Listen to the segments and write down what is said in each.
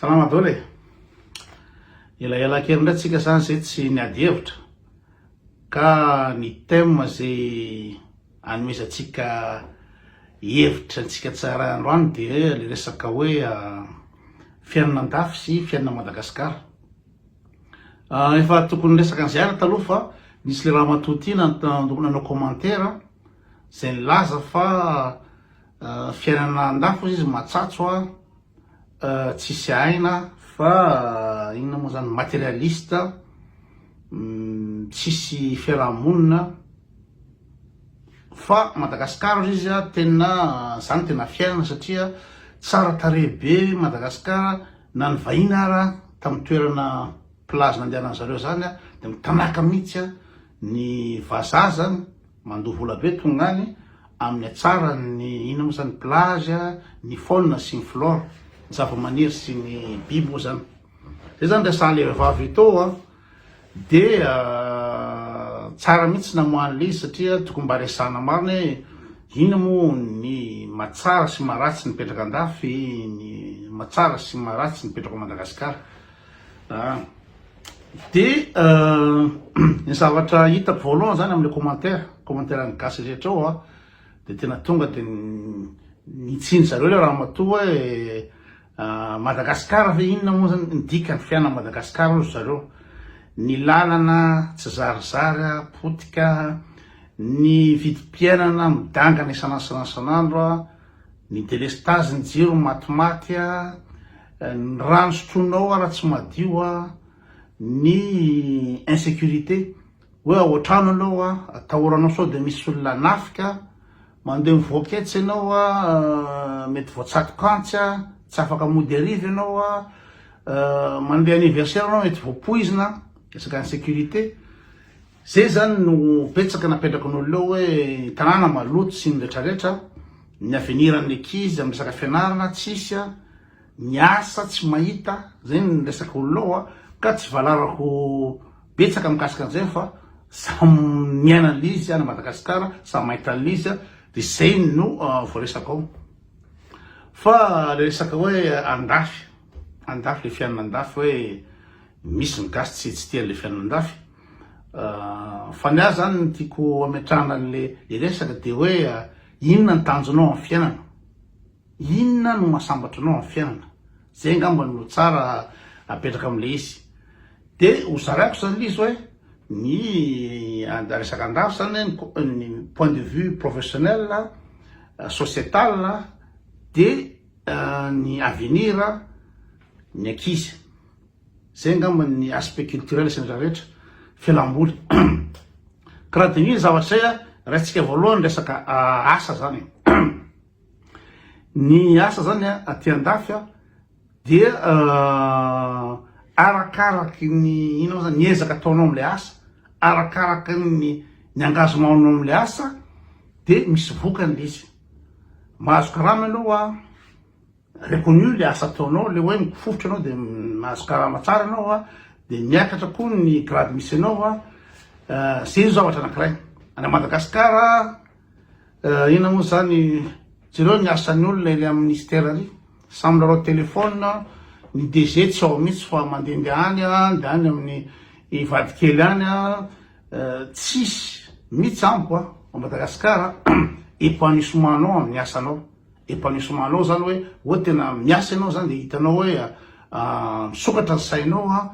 Salama dolo e! Elaela kely indray tsika zany zay tsy niady hevitra ka ny thème zay anomezantsika hevitra antsika tsara androany de le resaka hoe ah, fiainana andafy sy fiainana Madagascar. Ah, efa tokony resaka an'izay ary taloha fa nisy le ramatoa ty nanao commentaire zay nilaza fa ah, fiainana andafy ozy izy matsatso ah, Tsisy aina fa inona moa zany materialiste, tsisy fiarahamonina fa Madagascar ozy izy tena zany tena fiainana satria tsara tarehy be Madagascar na ny vahiny ara tamin'ny toerana plage nandehanan'zareo zany dia mitanaka mihitsy ny vazaha zany Mandoa vola be tonga any amin'ny hatsaran' ny inona moa izany? Ny plage, ny faune sy ny flore, ny zava-maniry sy ny biby moa izany. Izay izany resahan'ilay vehivavy Ito dia tsara mihitsy namoaha an'ilay izy satria tokony mba resahana marina hoe inona moa ny mahatsara sy maharatsy nipetraka an-dafy, ny mahatsara sy maharatsy nipetraka ao Madagasikara. Dia ny zavatra hitako voalohany zany amle commentaire, commentaire an'ny gasy rehetra ao dia tena tonga dia nitsiny zareo le ramatoa hoe Madagascar ve inona moa zany ny dikany fiainana Madagascar hoy zareo, ny lalana tsy zarizary potika, ny vidim-piainana midangana isan'andro isan'andro. Ny delestazy ny jiro ny matimaty a, ny rano sotroinao raha tsy madio a, ny insecurité hoe ao an-trano ianao a, atahoranao sao dia misy olona hanafika, mandeha mivoaka etsy ianao a, mety voatsatok'antsy a, tsy afaka mody hariva ianao a, mandeha anniversaire ianao mety voapoizina, resaka insecurité. Zay zany no betsaka napetrako ny olona eo hoe tanàna maloto sy ny retraretra, ny aveniran'ny ankizy amin'ny resaka fianarana tsisy a, ny asa tsy mahita, zay ny resaka olona ao a, ka tsy valarako betsaka mikasika an'izay fa samy miaina an'izy any Madagasikara, samy mahita an'izy a, de zay no voaresaka ao. Fa le resaka hoe andafy, andafy le fiainana andafy hoe misy ny gasy tsy tsy tia an'le fiainana andafy, Fa ny ahy zany ny tiako ametrahana anle resaka de hoe inona ny tanjonao amin'ny fiainana? Inona no mahasambatra anao amin'ny fiainana? Zay angamba no tsara apetraka amin'le izy. De ho zaraiko zany le izy hoe ny resaka an-dafy zany ny point de vue professionnel, societal de ny avenir ny ankizy. Zay angamba ny aspect culturel sy ny rehetra, fialamboly. Ka raha diniho zay zavatra zay an, raisintsika voalohany resaka asa zany e. Ny asa zany an, aty andafy an, dia arakaraky ny ino moa zany, ny ezaka ataonao amle asa, arakaraky ny ny engagement-nao amle asa dia misy vokany le izy. Mahazo karama ianao an. reconnu ilay asa ataonao, ilay hoe mifofotra ianao dia mahazo karama tsara ianao a, dia miakatra koa ny grade misy anao a, izay no zavatra anankiray. Any Madagasikara, inona moa izany, jereo ny asan'ny olona ilay amin'ny ministère ary, samy milalao téléphone, ny DG tsy ao mihitsy fa mandehandeha any a, dia any amin'ny vadikely any a, tsisy mihitsy amiko a, ao Madagasikara, épanouissement anao amin'ny asanao. Epanouissement anao zany hoe hoe tena miasa ianao zany dia hitanao hoe misokatra ny sainao an,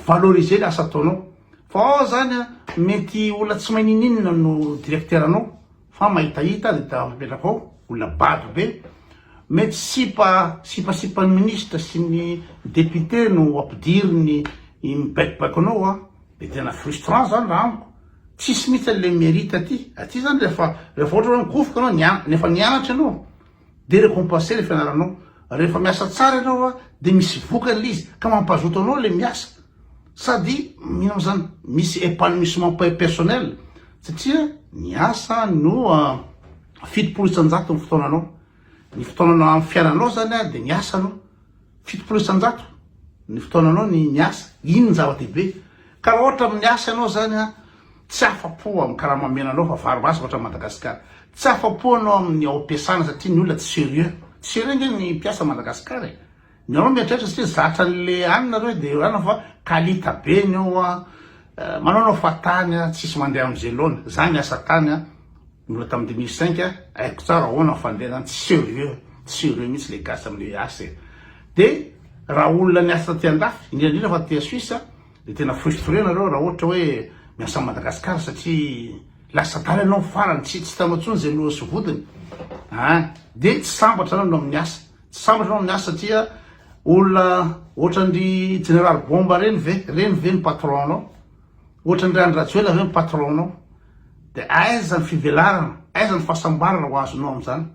valoriser ny asa ataonao fa ao zany an mety olona tsy mahay ninininona no directeur anao fa mahitahita dia ta mipetraka ao olona bado be mety sipa sipasipan'ny ministre sy ny député no ampidiriny mibaikobaiko anao an dia tena frustrant zany raha amiko Tsisy mihitsy an le merite aty, aty zany rehefa rehefa ohatra hoe migofoka anao nian efa nianatra ianao de recompenser le fianaranao, rehefa miasa tsara ianao a de misy vokany le izy ka mampazoto anao le miasa sady ino mo zany misy epanouissement pe personnel satria niasa no a fitopolo isan-jato ny fotoananao. Ny fotoananao amin'ny fiainanao zany dia ny asa aloha, fitopolo isan-jato ny fotoananao ny ny asa, iny ny zava-dehibe. Ka raha ohatra amin'ny asa ianao zany a, tsy afa-po amin'ny karama omena anao fa vary masaka ohatran'i Madagasikara. Tsy afa-po ianao amin'ny ao am-piasana satria ny olona tsy sérieux. Tsy sérieux ange ny mpiasa Madagasikara e! Nareo miatraitre satria zatra anle any nareo de eo ihany fa kalita be ny eo a manao anao fa tany a tsisy mandeha amze laona za niasa tany a mbola tam deux mille cinq a aiko tsara ahoana ny fandehanany tsy serieux tsy serieux mitsy le gasy amle asa e de raha olona niasa taty andafy indrindra indrindra fa taty suisse a de tena frustre nareo raha ohatra hoe miasa am madagascar satria lasa tany anao farany tsy tsy hitanao tsony ze lohany sy vodiny a de tsy sambatra nareo amle asa Tsy sambatra ianao miasa satria olona ohatran'dry jeneraly bomba reny ve? Reny ve ny patron nao? Ohatran'dry Andry Rajoela ve ny patron nao? De aiza ny fivelarana? Aiza ny fahasambarana ho azonao amin'izany?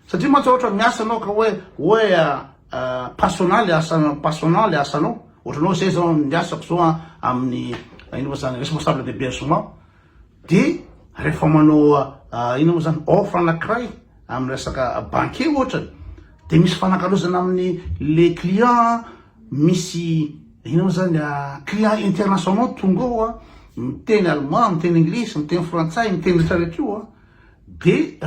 Satria mantsy ohatra miasa anao ka hoe hoe passionnant le asa passionnant le asanao. Ohatranao zay zao ny asako zao amin'ny ino ma zany responsable d'hébergement. De rehefa manao inona moa zany offre anakiray amin'ny resaka banque ohatrany de misy fanakalozana amin'ny le client misy inona moa zany client international tonga ao miteny allemand miteny anglisy miteny frantsay miteny rehetra rehetra io de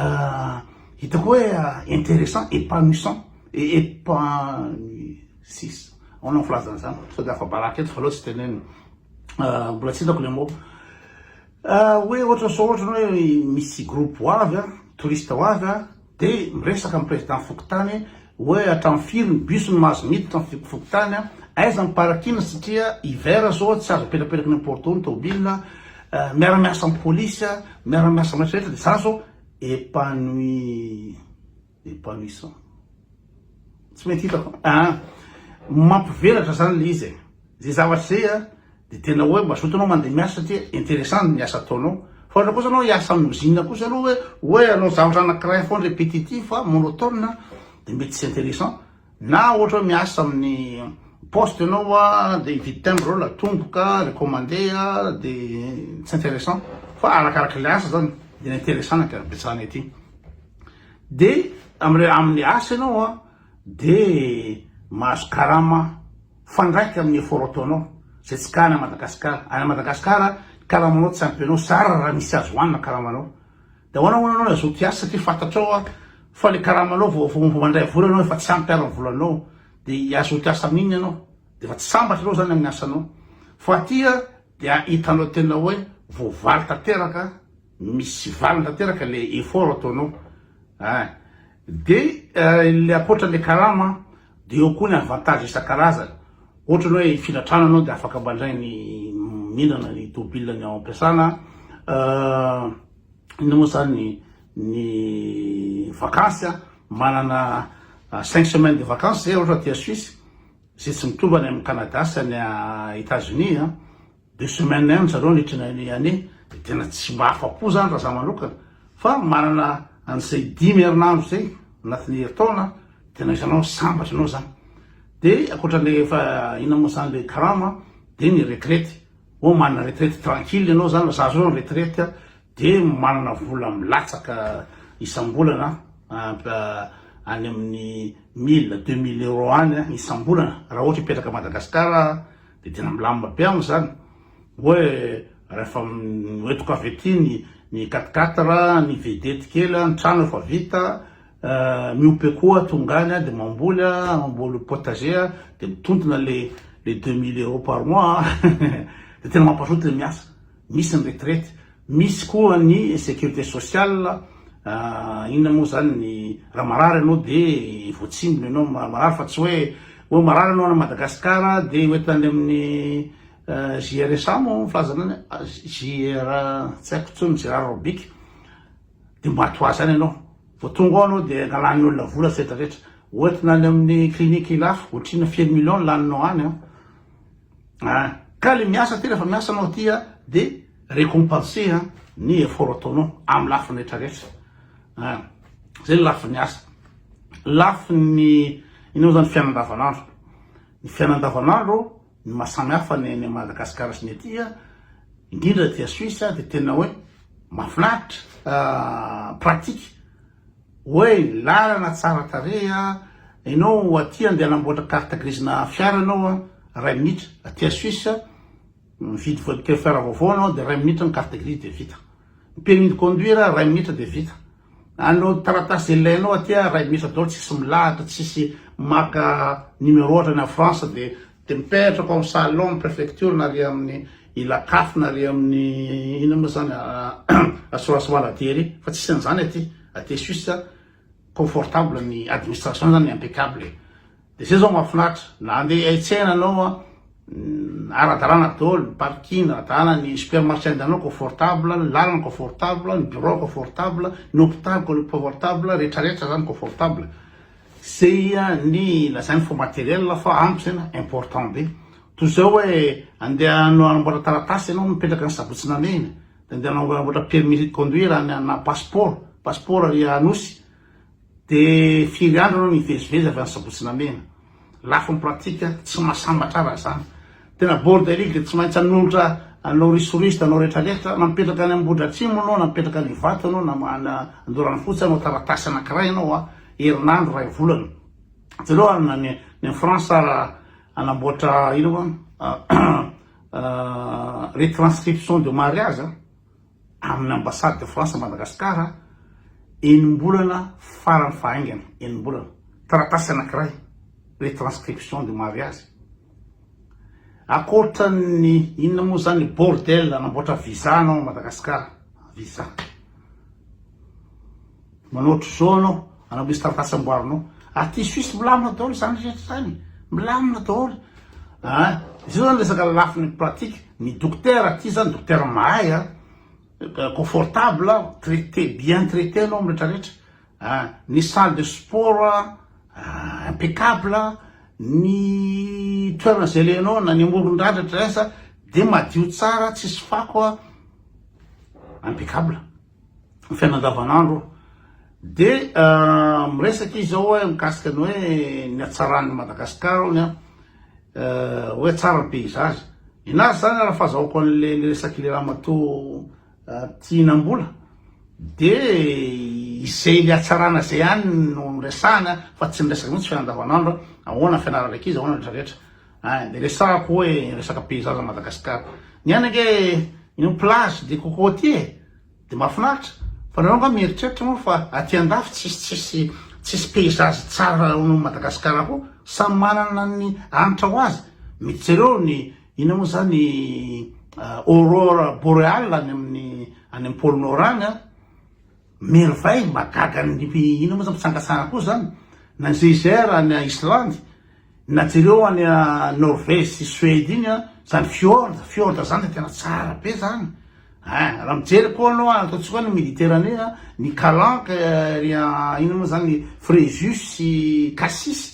hitako hoe intéressant épanouissant et épanouissant sisa ahoana ny filazana izany sao dia afa-baraka eto fa aleo tsy tenenina mbola tsy hitako le mot hoe ohatra sao ohatra ny hoe misy groupe ho avy a touriste ho avy a dia miresaka amin'ny président fokontany hoe hatramin'ny firy ny bus no mahazo miditra amin'ny fokontany a aiza ny parking satria hiver zao tsy azo apetrapetraka ny porte ao ny tômôbila miara-miasa amin'ny polisy a miara-miasa amin'ny rehetra rehetra dia za zao épanouie Epanouissant. Tsy mety hitako an! Mampivelatra izany ilay izy e! Izay zavatra izay an, dia tena hoe mazoto ianao mandeha miasa satria interessant ny asa ataonao. Fa ohatra kosa ianao hiasa amin'ny usine kosa aloha hoe hoe hanao zavatra anankiray foana répétitif an, monotone an, dia mety tsy interessant. Na ohatra hoe miasa amin'ny poste ianao an, dia hividy timbre ianao, latomboka, recommandé an, dia tsy interessant. Fa arakarak'ilay asa izany, dia ny interessant no ankarbetsahana ety. De amin'ireo amin'ny asa ianao de mahazo karama mifandraika amin'ny effort ataonao izay tsy ka any Madagascar, any Madagascar karamanao tsy ampy anao zara raha misy azo hoanina karamanao de ahoana hono ianao azoto hiasa satria fantatrao fa le karamanao vao vao mandray vola ianao efa tsy ampy ary ny volanao de azoto hiasa amin'inona ianao de efa tsy sambatra ianao zany amin'ny asanao fa aty dia hitanao tena hoe voavaly tanteraka. Misy valiny tanteraka le effort ataonao ah. De le ankoatra le karama de eo koa ny avantage isan-karazany, ohatra ny hoe hifindra trano anao de afaka mandray ny mihindrana ny tôbila ny ao am-piasana, inona moa zany ny vakansy ah, manana cinq semaines de vacances zay ohatra aty a Suisse, zay tsy mitovy any am Canada sy any Etats-Unis an. Deux semaines ihany zareo nitrany an'i Annie dia tena tsy mba afa-po zany raha za manokana fa manana an'izay dimy herinandro zay anatin'ny herintaona tena isanao sambatra ianao zany dia ankoatran'ilay efa inona moa zany ilay karama dia ny retraite oh manana retraite tranquille ianao zany raha zaza zao ny retraite dia manana vola milatsaka isam-bolana any amin'ny mille deux mille euros any isam-bolana raha ohatra hipetraka Madagasikara Dia tena milamina be any izany. Hoe rehefa hoentiko avy aty ny ny quat-quatre, ny vedety kely, ny trano efa vita, miope koa tonga any dia mamboly, mamboly potager, dia mitontona ilay deux mille euros par mois, dia tena mampazoto ilay miasa. Misy ny retraite, misy koa ny sécurité sociale, inona moa zany ny raha marary ianao de voatsindrona ianao marary fa tsy hoe hoe marary ianao any Madagascar de ho entina any amin'ny JRSA moa ny filazana any a, JR tsy haiko intsony ny Gérard Robic, de mba toa zany ianao, vao tonga ao ianao de angalan'ny olona vola tsy retraretra, ho entina any amin'ny clinique lafo ohatrinona firy millions no laninao any an. ah ka le miasa ty rehefa miasa anao ty a de récompenser a ny effort ataonao amin'ny lafiny rehetra rehetra ah zay ny lafiny asa lafiny inao zany fiainandavanandro ny fiainandavanandro ny masamy hafa ny any Madagascar sy ny aty a indrindra aty a Suisse a de tena hoe mahafinaritra ah, pratique Oey, lalana tsara tarehy a! Enao aty andeha hanamboatra carte grise-na fiara enao a! Ray minitra, aty à Suisse, mividy voiture fiara vaovao enao dia ray minitra ny carte grise dia vita. Ny permis de conduire ray minitra dia vita. Anao taratasy izay ilainao aty a, ray minitra daholo, tsisy milahatra, tsisy maka numéro ohatra any en France dia Dia mipetraka ao amin'ny salon ny prefecture na ary amin'ny Ilacaf na ary amin'ny inona moa izany assurance maladie ery fa tsisy an'izany aty, aty Suisse confortable ny administration izany impeccable e! Dia izay izao mahafinaritra na handeha hiaitsena anao an, ara-dalàna daholo, ny parking ara-dalàna, ny supermarché andehananao confortable, ny lalana confortable, ny birao confortable, ny hopitaly confortable, rehetra rehetra izany confortable. Zay ny lazainy fa matériel fa ampy zay na important be. Toy izao hoe andeha hanamboatra taratasy ianao mipetraka any Sabotsy Namehina dia andeha hanamboatra permis de conduire any na passeport, passeport ary Anosy dia firy andro ianao nivezivezy avy any Sabotsy Namehina. Lafiny pratique tsy mahasambatra raha zany. Tena bordelique de tsy maintsy anolotra anao risoriste anao rehetra rehetra na mipetraka any ambohidratrimo anao na mipetraka any ivato anao na any andoranofotsy anao taratasy anakiray anao a herinandro ray volana jereo any na ny ny france ara anamboatra ino moa retranscription de mariage amin'ny Ambassade de France à Madagascar, enim-bolana farany fahaingana, enim-bolana, taratasy anankiray hoe transcription du mariage. Akoatra ny inona moa zany bordel anamboatra visa anao à Madagascar, visa. Manao otrzao anao anao Mister Ratsy amboarinao aty suisse milamina daholo izany rehetra izany milamina daholo a ah, izao zany resaka lafiny pratique ny dokotera aty zany dokotera mahay a ah, confortable ah, traité bien traité anao miretraretra a ny salle de sport a impeccable ny toerana izay lehanao na ny amoron-dradratra esa de madio tsara tsisy fako a impeccable fiainana andavanandro dia miresaka izy ao hoe mikasika ny hoe ny hatsaran'ny Madagascar ony a hoe tsara ny paysage inazy zany raha fahazahoako an'le le resak'le ramatoa tianambola dia izay le hatsarana zay any no resahana fa tsy miresaka mihitsy fiainana andavanandro ahoana fianarana ankizy ahoana retraretra Ay de resahako hoe resaka peizaza Madagascar ny any ange ino plage de cocotier e de mafinaritra fa nareo nga mieritreritra moa fa aty andafy tsisy tsisy tsisy peizazy tsara ao Madagascar koa samy manana ny anitra ho azy mety jereo ny ino moa zany aurore boreale any amin'ny any am pole nord any a merveille mahagaga ny ino moa zany mpitsangatsanga koa zany na ny geyser any Islande Na jereo any a Norvège sy Suède iny a, zany fjord, fjord zany de tena tsara be zany ein, raha mijery koa anao a, ataontsika hoe ny Méditerranée a, ny Calanques ery a inona moa zany, Fréjus sy Cassis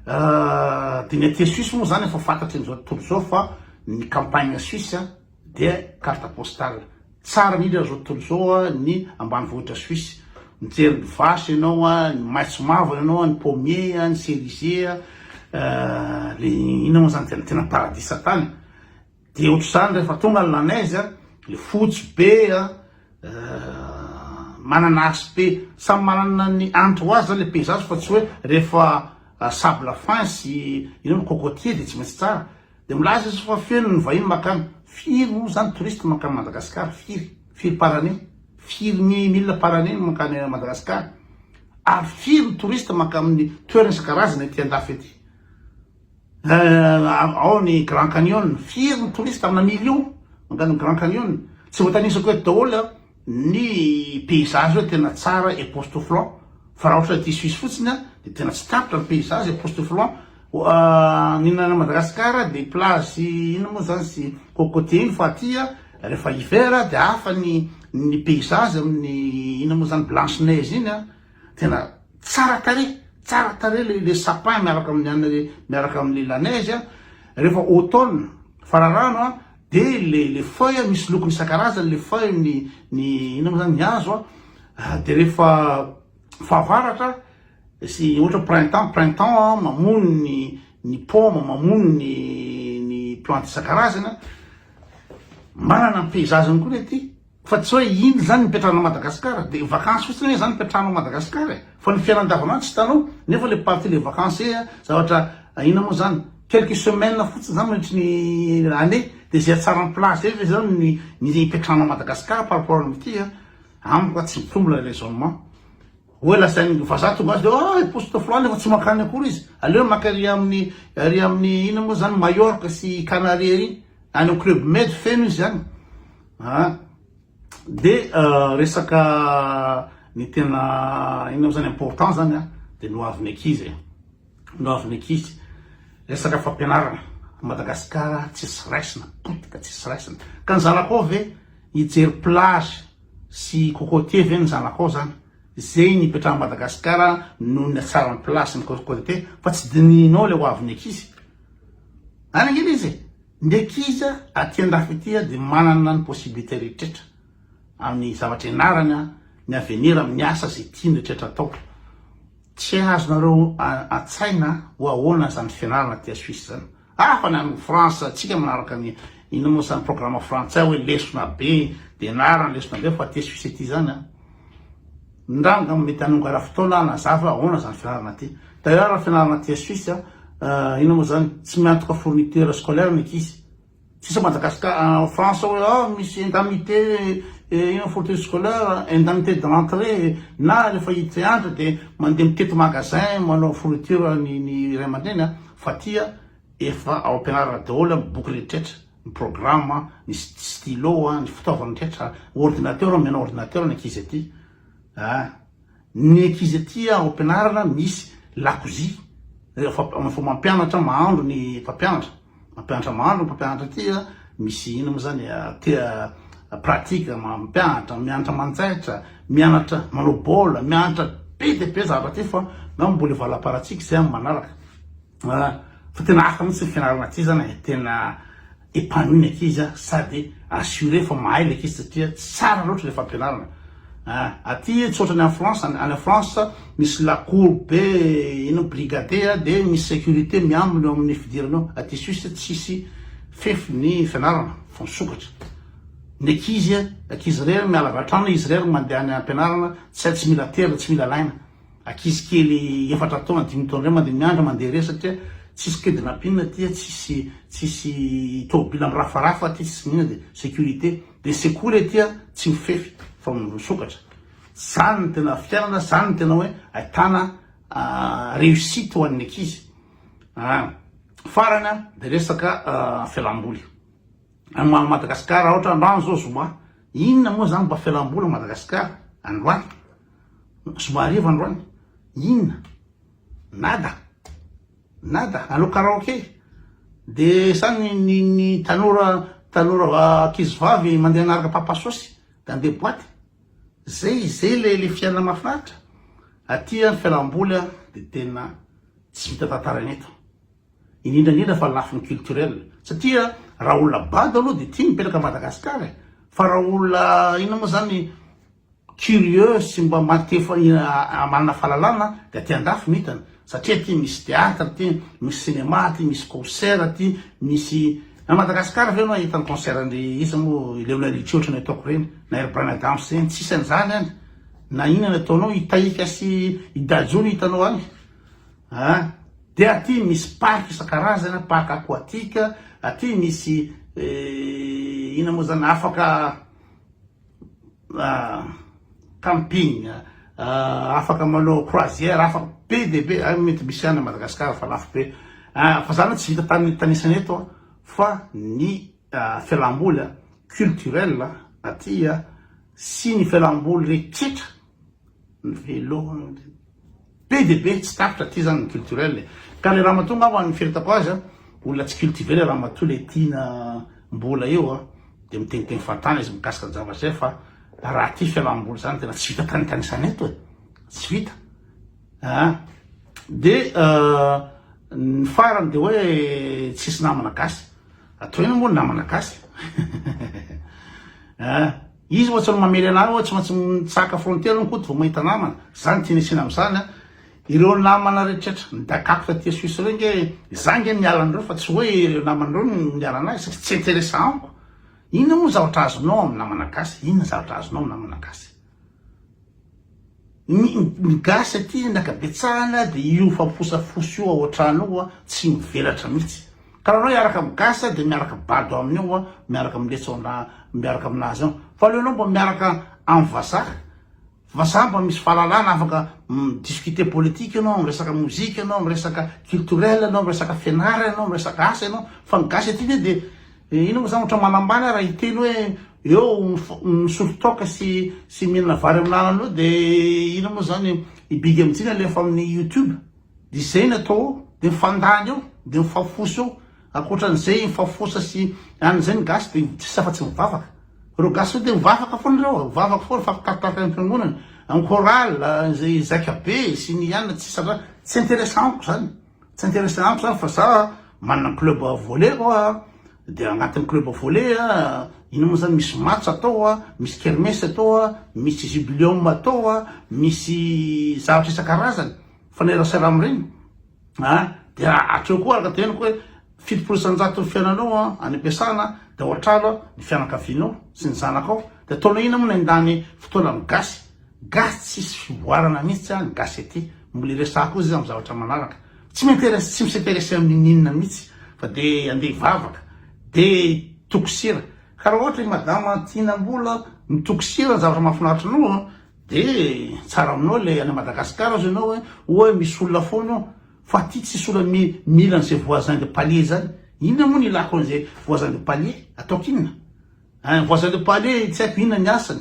dia ny aty Suisse moa zany efa fantatry an'izao tontolo izao fa ny campagne suisse a, dia carte postale tsara indrindra amin'izao tontolo izao ny ambanivohitra Suisse, mijery ny vache ianao, ny maitso mavana ianao, ny pommier, ny cerisier, le inona moa zany tena tena paradisa tany, dia ohatr'izany rehefa tonga ny la neige, le fotsy be an, manana aspect, samy manana ny hanitra ho azy zany le paysage fa tsy hoe rehefa sable fin sy inona, cocotier dia tsy maintsy tsara. Dia milaza izy fa feno ny vahiny makany. Firy moa izany touriste mankany Madagascar? Firy? Firy par année? Firy mi mille par année no mankany Madagascar? Ary firy ny touriste mankamin'ny toerana isan-karazany ety andafy ety? Eh, ao ny Grand Canyon, firy ny touriste amina million mankany Grand Canyon? Tsy voatanisako eto daholo an. Ny paysage hoe tena tsara epoustouflant fa raha ohatra ity suisse fotsiny a de tena tsy tapitra ny paysage epoustouflant ny any Madagascar de plage inona moa zany sy cocotier iny fa aty a rehefa hiver a de hafa ny ny paysage amin'ny inona moa zany blanche neige iny a tena tsara tarehy tsara tarehy le le sapin miaraka amin'ny anle miaraka amle la neige a rehefa automne fararano a De le le feuille misy lokony isan-karazany le feuille ny ny inona moa zany ny hazo a de rehefa fahavaratra sy ohatra printemps printemps a mamono ny ny paoma mamono ny ny plantes isan-karazany a manana ny paysage-ny koa le aty. Fa tsy hoe iny izany ny mipetrahanao Madagascar dia vacances fotsiny ve izany ny fipetrahanao Madagascar e? Fa ny fiainana andavanandro tsy hitanao nefa ilay partie ilay vacances ee zavatra inona moa izany? Quelques semaines fotsiny izany mandritry ny année dia izay hatsaran'ny plage izay ve izao no hipetrahanao Madagascar par rapport amin'ity a? Amiko a tsy mitombo ilay raisonnement. Oe lazainy vazaha tonga azy leo ah poste flan nefa tsy mankany akory izy aleony maka ery aminy ery aminy inona moa zany Mallorca sy Canarie ery any am club med feno izy any ah de resaka ny tena inona moa zany important zany ah de no aviny akizy e no aviny akizy resaka fampianarana Madagascar tsisy raisina potika tsisy raisina ka ny zanakao ve hijery plage sy cocotier ve ny zanako ao zany zay ny ipetrahan'i Madagascar noho ny hatsaran'ny place ny cocotier fa tsy dinihinao le hoavin'ny ankizy any ange le izy e ny ankizy aty an-dafy aty dia manana ny possibilité rehetra amin'ny zavatra ianarany ny avenir amin'ny asa zay tiany rehetra atao tsy azonareo an-tsaina ho ahoana zany fianarana aty Suisse zany Hafa ny any France atsika manaraka ny ino moa zany programme frantsay hoe lesona be de anarany lesona be fa aty suisse aty zany a ndra angamba mety hanonga ra fotoana hanazava ahoana zany fianarana aty d'ailleurs ra fianarana aty suisse a euh, ino moa zany tsy miantoka fourniture scolaire ny ankizy sisa Madagascar en France hoe ah misy indemnité eh, ino fourniture scolaire indemnité de rentrée na rehefa hiditra hianatra de mandeha mitety magasin manao fourniture ny ny iray aman-dreny a Fatia efa ao ampianarana daholo ny boky rehetrretra, ny programme, ny stylo, ny fitaovana rehetrretra, ordinateur, mianao ordinateur ny ankizy aty ah! ny ankizy aty ao ampianarana misy lakozia, efa mampianatra mahandro ny mpampianatra, mampianatra mahandro ny mpampianatra aty ah! Misy ino mo zany tia pratique mampianatra mianatra manjaitra mianatra manao baolina mianatra be dia be zavatra ty fa ngamba mbola hivalam-paratsika izay amin'ny manaraka ah, fa tena hafa mihitsy ny fianarana aty zany e, tena épanouie ny ankizy sady assuré fa mahay ny ankizy satria tsara loatra ilay fampianarana. Aty tsotra ny any France, any France misy la cour be ino brigade a, de misy securite miambina eo amin'ny fidirana ao, aty Suisse tsisy fefy ny fianarana fa misokatra, ny ankizy a, ankizy irery miala avy an-trano izy irery mandeha any am-pianarana, tsy hay tsy mila tera, tsy mila alaina, ankizy kely efatra taona, dimy taona reny mandeha miandry mandeha irery satria tsisy kidnapping aty a, tsisy tsisy tôbila mirafarafa aty tsisy n'inona de securite. Dia sekoly ety a, tsy mifefy fa misokatra. Zany no tena fiainana, zany no tena hoe ahitana réussite ho an'ny ankizy. Farany a, dia resaka fialamboly. Amin'i Madagasikara ohatra androany zao zoma, inona moa zany mba fialamboly Madagasikara androany? Zoma hariva androany, inona? Nada. Nada, hanao karaoke. De sa ny ny ny tanora tanora va ankizy vavy mandeha hanaraka papa sosy dans des boites. Zay zay le le fiainana mahafinaritra. Aty an ny fialamboly an de tena tsy vita tantaraina eto. Indrindra indrindra fa lafiny culturel. Satria raha olona bado aloha de tia mipetraka à Madagascar e. Fa raha olona inona moa zany curieux sy mba maha te manana fahalalana dia aty andafy no hitany satria aty misy théâtre aty misy cinéma aty misy concert aty misy na Madagascar ve enao hahita ny concert an'i iza moa i Leona Richie ohatran'ny ataoko ireny na i ry Bryan Adams ireny tsisy an'izany any na inona ny ataonao i Tahika sy i Dadju no hitanao any a dia aty misy parc isan-karazany parc aquatique aty misy inona moa izany afaka camping, afaka manao croisière, afaka be dia be, ah, mety misy any Madagascar fa lafo be, ah, fa zany tsy vita tany tanisany eto ah, fa ny ah, fialamboly culturel aty sy ny fialamboly rehetra Velombe dia be, tsy tapitra aty zany ny culturel e. Ka le ramatoa angamba amin'ny fieritako azy an, olona tsy cultiver le ramatoa le tiana mbola eo an, dia miteniteny fantany izy mikasika ny zavatra izay fa raha ty fialamboly zany tena tsy vita tanitanisana eto e, tsy vita an. Dia ny farany dia hoe tsisy namana gasy, atoy eny moa ny namana gasy an. Izy ohatsy ny mamely anah hoe tsy maintsy mitsahaka frontière ny koto vao mahita namana, za ny tiany asiana amzany an! Ireo namana retrretra nidakako taty Suisse ireo nge za nge miala anreo fa tsy hoe ireo namana ireo no miala anah satria tsy interesa amiko! Inona moa ny zavatra azonao amin'ny namana gasy? Inona ny zavatra azonao amin'ny namana gasy? Ny ny gasy aty ny ankabetsahana dia io famposafosa io ao an-trano ao tsy mivelatra mihitsy. Ka raha anao hiaraka amin'ny gasy dia miaraka bado aminy ao miaraka amin'ny letsao na miaraka aminazy ao. Fa aleonao mba miaraka amin'ny vazaha, vazaha mba misy fahalalana afaka mi-discuter politique ianao, miresaka mozika ianao, miresaka culturel ianao, miresaka fianarana ianao, miresaka asa ianao. Fa ny gasy aty anie dia Dia inona moa izany ohatra manambany aho raha hiteny hoe eo misotro toaka sy sy mihinana vary amin'ny lalana eo dia inona moa izany i Big MJ nalefa amin'ny youtube dia izay no atao ao dia mifandany eo dia mifafosa eo ankoatran'izay mifafosa sy any izay ny gasy dia tsisy afa tsy mivavaka ireo gasy ireo dia mivavaka foana ireo mivavaka foana mifampitaritarika ny fiangonana amin'ny chorale izay zaika be sy ny anona tsisy anona tsy intéressant amiko izany Tsy intéressé amiko zany fa za manana club volley ko a, de agnatin'ny club volley a, ino mo zany misy match atao a, misy kermesse atao a, misy jubileum atao a, misy zavatra isan-karazany mifanerasera amin'ireny a, de hatreo koa araka ny teneniko hoe Fitopolo isanjaton'ny fiainanao any am-piasana dia ao an-trano ny fianakavianao sy ny zanakao dia ataonao inona moa ny handany fotoana amin'ny gasy? Gasy tsisy fivoarana mihitsy ny gasy aty. Mbola hiresaka koa izy amin'ny zavatra manaraka. Tsy m'intéresse tsy mi-s'intéresser amin'inon'inona mihitsy fa dia handeha hivavaka dia hitoko sira. Ka raha ohatra i madama tiana mbola mitoko sira ny zavatra mahafinaritra anao dia tsara aminao ilay any Madagascar aza ianao hoe oa misy olona foana eo. Fa ty tsy sola mi mila an'izay voisin de palier zany, inona moa ny ilako an'izay voisin de palier? Ataoko inona? Ein, voisin de palier tsy haiko inona ny asany,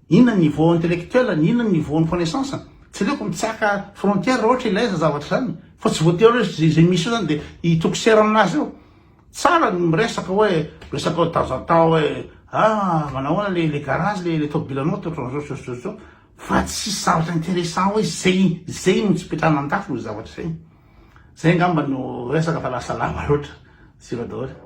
inona ny niveau intellectuel-ny, inona ny niveau ny connaissance-ny. Tsy aleoko mitsaka frontière raha ohatra ilaiza zavatra zany, fa tsy voatery hoe zay zay misy eo zany de hitoko sera aminazy eo. Tsara ny miresaka hoe resaka hoe de temps en temps hoe ah manao ahoana le le garage le le tomobilanao ohatran'izao sy ohatran'izao sy ohatran'izao, Fa tsisy zavatra intéressant hoe zay zay no tsipetrahana an-dafy no zavatra zay. Zay angamba no resaka fa lasa lava loatra. Siva daholo.